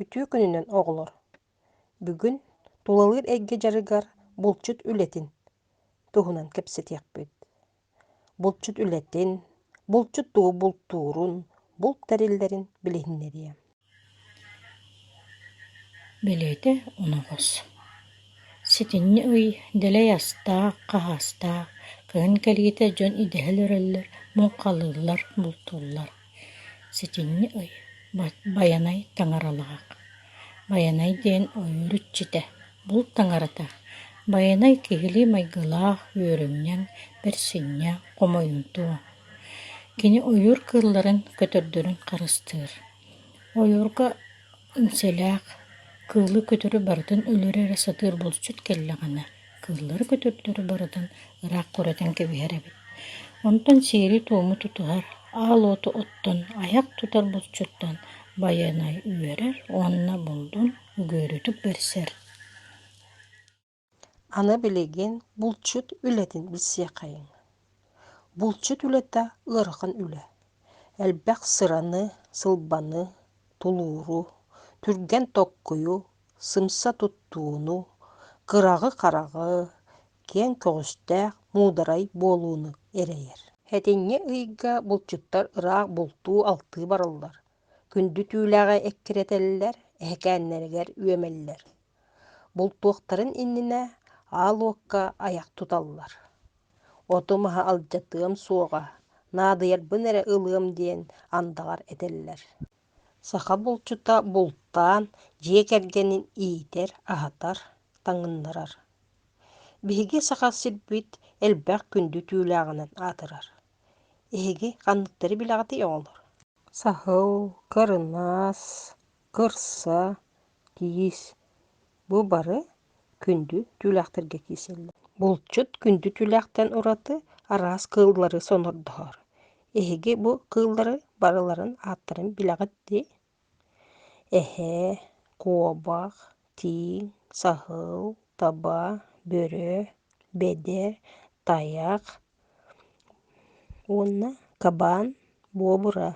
Үтүө күнүнэн, оҕолор! Бүгүн тулалыыр эйгэ дьарыгар булчут үлэтин туһунан кэпсэтиэхпит. Булчут үлэтин, булчут тугу бултуурун, булт тэриллэрин билиһиннэриэ. Бэлиэтэ унаҕас. Ситинньи ый дэлэй астаах, хаһаастаах, кыһын кэлиитэ дьон идэһэ өрөллөр, муҥхалыыллар, бултууллар. Сэтинньи ый Байанай таҥаралаах Байанай диэн ойуур иччитэ, булт таҥарата Байанай киһилии майгылаах, үөрүнньэҥ, бэрсинньэ, хомойумтуо. Кини ойуур кыылларын, көтөрдөрүн харыстыыр. Ойуурга Үҥсэлээх, кыылы-көтөрү барытын өлөрө эрэ сатыыр булчут кэллэҕинэ, кыыллары-көтөрдөрү барытын ыраах курэтан кэбиһэр эбит. Онтон сиэри-туому тутуһар, аал уоту оттон, айах тутар булчуттан байанай үөрэр уонна булдун үгүөрүтүк бэрсэр Аны билигин булчут үлэтин билсиэхэйиҥ. Булчут үлэтэ ыарахан үлэ. Элбэх сыраны, сылбаны, тулууру, түргэн токкуйу, сымса туттууну, кыраҕы-хараҕы, киэҥ көҕүстээх муударай буолууну эрэйэр. Этиҥҥэ ыйга булчуттар ыраах бултуу-алтыы бараллар. Күндү түүлээҕи эккирэтэллэр, эһэкээннэригэр үөмэллэр. Бултуохтарын иннинэ аал уокка айах туталлар. Оту-маһы алдьатыам суоҕа, наадыйарбын эрэ ылыам диэн андаҕар этэллэр. Саха булчута бултаан, дьиэ кэргэнин иитэр, аһатар, таҥыннарар. Биһиги саха сирбит элбэх күндү түүлээҕинэн аатырар. Эһиги ханныктары билэҕитий оҕолор Саһыл, кырынаас, кырса, киис бу бары күндү түүлээхтэргэ киирсэллэр. Булчут күндү түүлээхтэн ураты араас кыыллары сонордоһор. Эһиги бу кыыллары барыларын ааттарын билэҕит дии? Эһээ, куобах, тииҥ, саһыл, таба, бөрө, бэдэр, тайах уонна кабан буобура.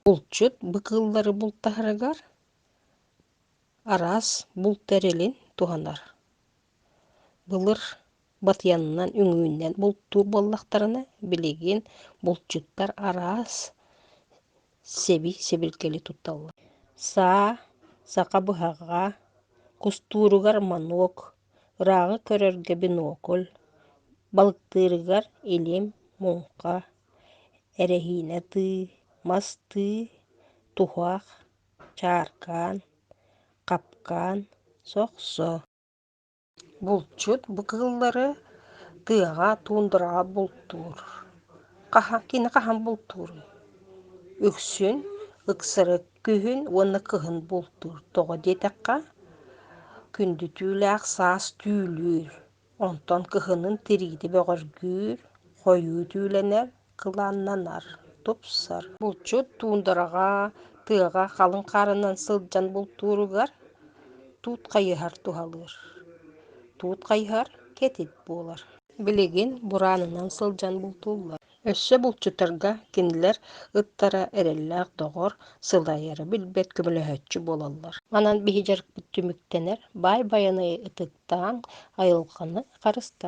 Булчут быкыыллары бултаһарыгар араас булт тэрилин туһанар. Былыр батыйанынан үҥүүннэн бултуур буоллахтарына билигин булчуттар араас сэби-сэбиргэли тутталлар саа саха быһаҕа кустууругар манок ырааҕы көрөргө бинокль балыктыырыгар илим муҥха эрэһиинэ тыы мас тыы туһах чааркаан хапкаан сохсо Булчут бу кыыллары тыаҕа, туундараҕа бултуур. Хаһан, кини хаһан бултууруй? Үксүн ыксары күһүн уонна кыһын бултуур. Тоҕо диэтэххэ, күндүтүүлээх саас түүлүүр. Онтон кыһынын тириити бөҕөргүүр, хойуу түүлэнэр. кылааннанар, тупсар. Булчут туундараҕа, тыаҕа халыҥ хаарынан сылдьан бултууругар туут хайыһар туһалыыр. Туут хайыһар кэтит буолар. Билигин бураанынан сылдьан бултууллар. Өссө булчуттарга кинилэр ыттара эрэллээх доҕор, сылайара билбэт көмөлөһөөччү буолаллар. Онон биһи дьарыкпыт түмүктэнэр. Баай Байанайы ытыктааҥ, айылҕаны харыстааҥ.